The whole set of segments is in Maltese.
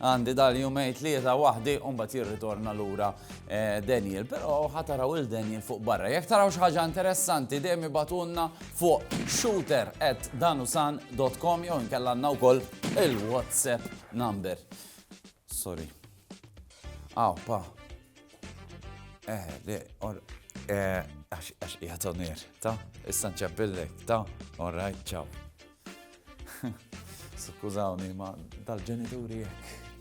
Għandi dal-jumej tlieta waħdi u mbagħad jirritorna lura eh, Daniel. Però ħataraw il-Daniel fuq barra. Jekk taraw xi ħaġa interessanti dejjem ibatunna fuq shooter at danusan.com jew inkella għandna wkoll il-WhatsApp number. Sorry. Aw, pa. Eh, le, or, eh, għax, għax, jgħatonir, ta? Issa nċabbillek, ta? All right, ciao. Skużawni, ma dal-ġenituri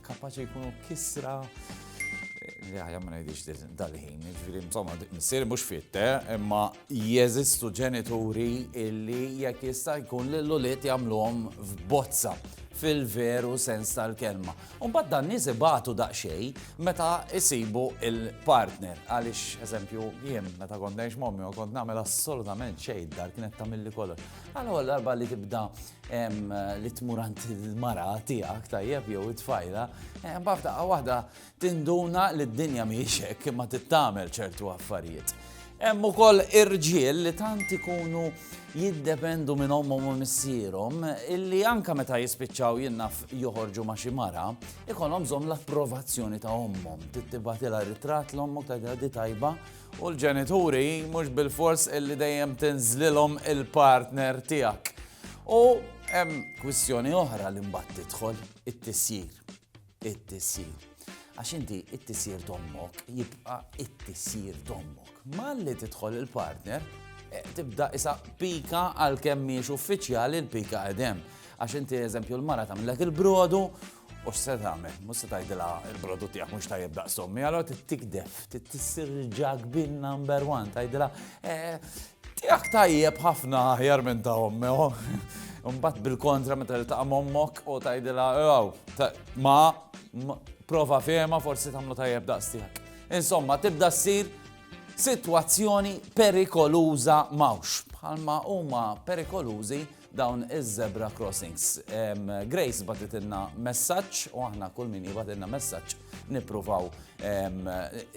kapaċi jkunu kisra. Jaħja ma ngħidix dal-ħin, ġifieri insomma missier mhux fitte, eh, imma jeżistu ġenituri illi jekk jista' jkun lil ulied jagħmluhom f'bozza fil-veru sens tal-kelma. Unbat dan nies ibatu daqxej meta isibu il-partner. Għalix, eżempju, jien meta kont nejx mommi u kont namel assolutament xejn dar kienet tamilli kollox. Għal-ewwel darba li tibda li tmur għand il-mara tiegħek tajjeb jew it-tfajla, bafda waħda tinduna li d-dinja mhijiex hekk imma tittamel ċertu affarijiet. Hemm ukoll irġiel li tant ikunu jiddependu minn ommhom u missierhom illi anka meta jispiċċaw jinnaf joħorġu ma' xi mara, ikollhom bżonn l-approvazzjoni ta' ommhom. Tittibatilha ritratt l-ommok ta' di tajba U l-ġenituri mhux bilfors illi dejjem tinżlilhom il-partner tiegħek. U hemm kwistjoni oħra li mbagħad tidħol it-tisjir. It-tisjir. Għax inti it-tisjir dommok jibqa' it-tisjir dommok. Malli tidħol il-partner, eh, tibda isa pika għal kemm miex uffiċjali l-pika għedem. Għax inti eżempju l-mara tagħmlek il-brodu U x'se tagħmel? Mhux se tgħidilha il-prodott tiegħek mhux tajjeb daqs ommi, allora tittikdef, tissir ġag bin number one, tgħidilha eh, tiegħek tajjeb ħafna aħjar minn ta' ommi. Oh. Mbagħad bil-kontra meta li ta' ommok u tgħidilha ew ma prova fehma forsi tagħmlu tajjeb daqs tiegħek. Insomma, tibda ssir sitwazzjoni perikoluża mawx bħalma huma perikolużi dawn iż-zebra crossings. Grace batitilna messaġġ u aħna kull min jibatilna messaġġ nippruvaw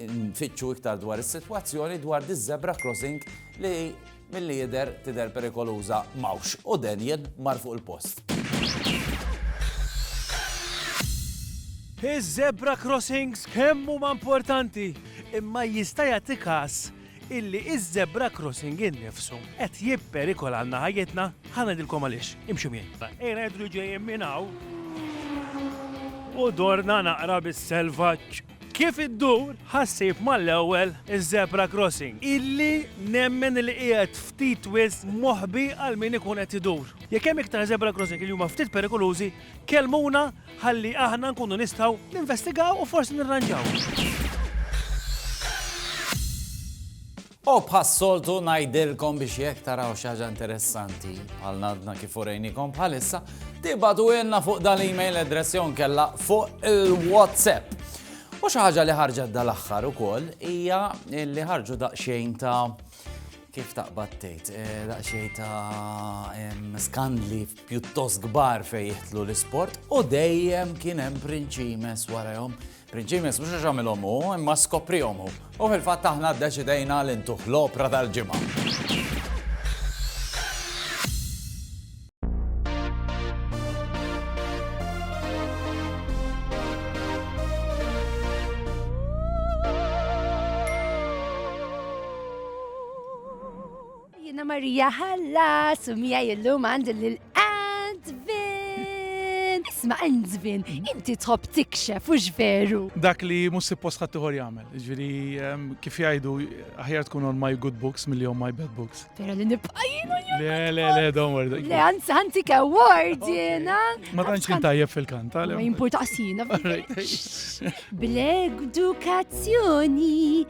nfittxu iktar dwar is-sitwazzjoni dwar di zebra crossing li mill-li jider tider perikoluża mawx u Daniel mar fuq il-post. Iż-zebra crossings kemm huma importanti imma jista' jagħti każ illi iż-zebra crossing innifsu qed jipperikolalna ħajjitna, ħa ngħidilkom għaliex, imxu miegħi. Ejna jidhru li ġejjin minn hawn u dorna naqra bis-selvaġġ. Kif iddur ħassib mal-ewwel iż-zebra crossing, illi nemmen li qiegħed ftit wisq moħbi għal min ikun qed idur. Jekk hemm iktar zebra crossing li huma ftit perikolużi, kellmuna ħalli aħna nkunu nistgħu ninvestigaw u forsi nirranġaw. U bħas-soltu ngħidilkom biex jekk taraw xi ħaġa interessanti bħal nadna kif urejnikom bħalissa, tibatu jenna fuq dal-email address jon kella fuq il-WhatsApp. U xi ħaġa li ħarġet dal-aħħar ukoll hija li ħarġu daqsxejn ta' kif taqbad tgħid, eh, daqsxejn ta' skandli pjuttost kbar fejn jihtlu l-isport u dejjem kien hemm prinċimes warahom. Prinċimes mhux għax għamilhom hu, imma skoprihom hu. U fil-fatt aħna ddeċidejna li ntuħ l-opra tal-ġimgħa. Jiena Marija ħallas u miegħi illum għandi lil Antvin. Isma' Antvin, inti tħobb tikxef u veru. Dak li mhux suppost ħadd ieħor jagħmel. Ġifieri ehm, kif jgħidu aħjar tkun on my good books milli on my bad books. Vera li nibqa' jiena Le, le, le, don't worry. Le, anzi, anzi, ke word jiena. Ma tantx kien tajjeb fil-kant, għalem. Ma jimpurtaqsina. Bl-edukazzjoni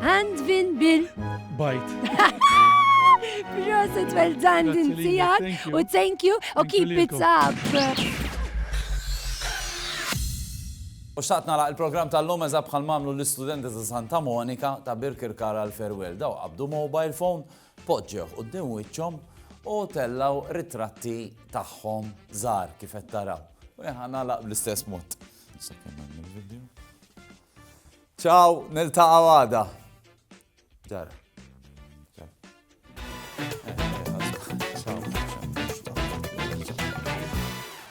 Għand vin bil. Bajt. Proset, well done din tijak. U thank you, u keep it up. U xaqt nara il-program tal-lum eżab bħal mamlu l-istudenti ta' Santa Monika ta' Birkirkara l-Ferwell. Daw qabdu mobile phone, poġġew u d-din wiċċom u tellaw ritratti tagħhom żar kif qed taraw. U jħan nagħlaq bl-istess mod. Sekkenna il-video. Ciao, niltaqgħu għada. Ġara.